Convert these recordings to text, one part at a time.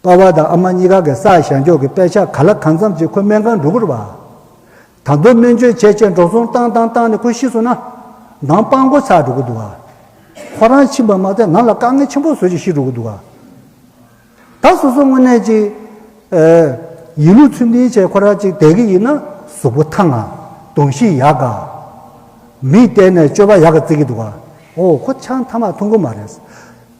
པ་བ་དང་ཨ་མ་གཉིས་ཀ་གི་སར་བཞག་འཇོག་གི་དཔེ་ཆ་ག་ལ་གང་འཚམས་ཅིག་ཁོ་སྨན་ཁང་འགྲོ་གུར་བ་དང་པོའི་སྨན་བཅོས་བྱས་བྱས་འགྲོ་སོང་བཏང་བཏང་བཏང་ནས་ཁོ་ཤི་སོང་ན། འདང་དཔང་འགོ་ཚར་འགྲོ་གི་འདུག་ཨ། ཁོ་རང་ཕྱིན་པ་མ་ཚད་ང་ལ་དཀའ་ངལ་ཆེན་པོ་བཟོ་ཅིག་ཤི་འགྲོ་གི་འདུག་ཨ། ད་སོ་སོ་དངོས་གནས་ཅིག་ཡིན་ལུགས་ཚུལ་མིན་བྱས་ཁོ་རང་ཅིག་བསྡད་གི་ཡིན་ན་གཟུགས་པོ་ཐང་ཨ། གདོང་བཞི་ཡག་ག། མིག་གཏད་ནས་སྤྱོད་པ་ཡག་ག་བརྩི་གི་འདུག་ཨ། ཨོ་ཁོ་ཆང་ཐ་མག་འཐུང་གི་མ་རེད།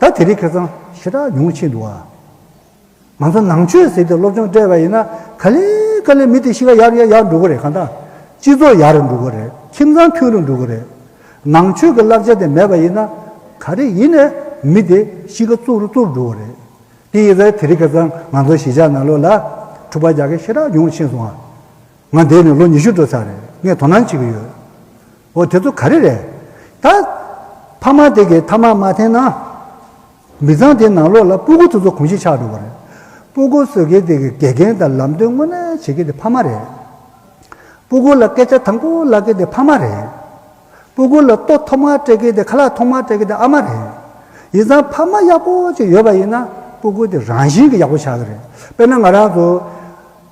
ད་དེ་རིགས་ཁེ་གཙང་ཞེ་དྲག་ཉུང་ཆེ་འདུག་ཨ། ང་ཚོ་ནང་ཆོས་ཟེར་ཏེ་སློབ་སྦྱོང་སྤྲད་པ་ཡིན་ན་ག་ལེ་ག་ལེ་མི་དེ་གཤིས་ཀ་ཡག་ཡག་ཡག་འགྲོ་གི་རེད་གང་ལྟ། སྤྱི་ཚོགས་ཡག་རུ་འགྲོ་གི་རེད་ཁྱིམ་ཚང་མཐུན་རུ་འགྲོ་གི་རེད། ནང་ཆོས་ཀྱི་བསླབ་བྱ་དེ་མེད་པ་ཡིན་ན་ག་རེ་ཡིན་ནས་མི་དེ་གཤིས་ཀ་གཙོ་རུ་གཙོ་རུ་འགྲོ་གི་རེད། དེ་ཡིན་ཟེར་དེ་རིགས་ཁེ་གཙང་ང་ཚོ་གཞིས་ཆགས་ནང་ལོག་ལ་འཁྲུག་པ་རྒྱག་མཁན་ཞེ་དྲག་ཉུང་ཆེ་སོང་ཨ། ང་འདས་ནས་ལོ་ཉི་ཤུ་འགྲོ་ཚར་རེད་ངས་དོ་སྣང་བྱེད་ཀྱི་ཡོད། འོ་དེ་ཚོ་ག་རེ་རེད། ད། ཕ་མ་དེ་གས་ཐ་མག་མ་འཐེན་ན། མི་ཚང་དེའི་ནང་ལོགས་ལ་སྤུ་གུ་ཚོ་ཚོ་གོང་བཞིན་ཆགས་འགྲོ་བ་རེད། སྤུ་གུ་བཟོས་མཁན་དེ་གས་དགེ་རྒན་དང་ལམ་སྟོན་དངོས་གནས་བྱེད་མཁན་དེ་ཕ་མ་རེད། སྤུ་གུ་ལ་སྐད་ཆ་དང་པོ་ལབ་མཁན་དེ་ཕ་མ་རེད། སྤུ་གུ་ལ་ལྟོ་ཐོག་མར་སྤྲད་མཁན་དེ་ཁ་ལག་ཐོག་མར་སྤྲད་མཁན་དེ་ཨ་མ་རེད། ཡིན་ཙང་ཕ་མ་ཡག་པོ་ཅིག་ཡོད་པ་ཡིན་ན་སྤུ་གུ་དེ་རང་བཞིན་གྱིས་ཡག་པོ་ཆགས་ཀྱི་རེད། དཔེར་ན་ང་རང་ཚོ།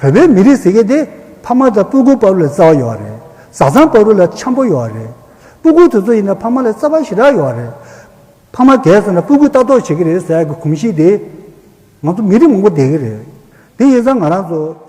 བོད་པའི་མི་རིགས་ཟེར་མཁན་དེ་ཕ་མ་དང་སྤུ་གུ་དཔའ་བོ་ལས་རྩ་བ་ཡོད་རེད། བཟའ་ཚང་དཔའ་བོ་ལས་འཁྱམ་པོ་ཡོད་རེད། སྤུ་གུ་དེ་ཚོ་ཡིན་ན་ཕ་མ་ལས་རྩ་བ་ཞེ་དྲག་ཡོད་རེད། ཕ་མ་དེས་ཟེར་ན་སྤུ་གུ་ལྟ་རྟོག་བྱེད་ཀྱི་རེད་ཟེར་གྱི་གོམས་གཤིས་དེ་ང་ཚོ་མི་རིགས་མང་པོ་འདས་ཀྱི་རེད། དེ་ཡིན་ཙང་ང་རང་ཚོ།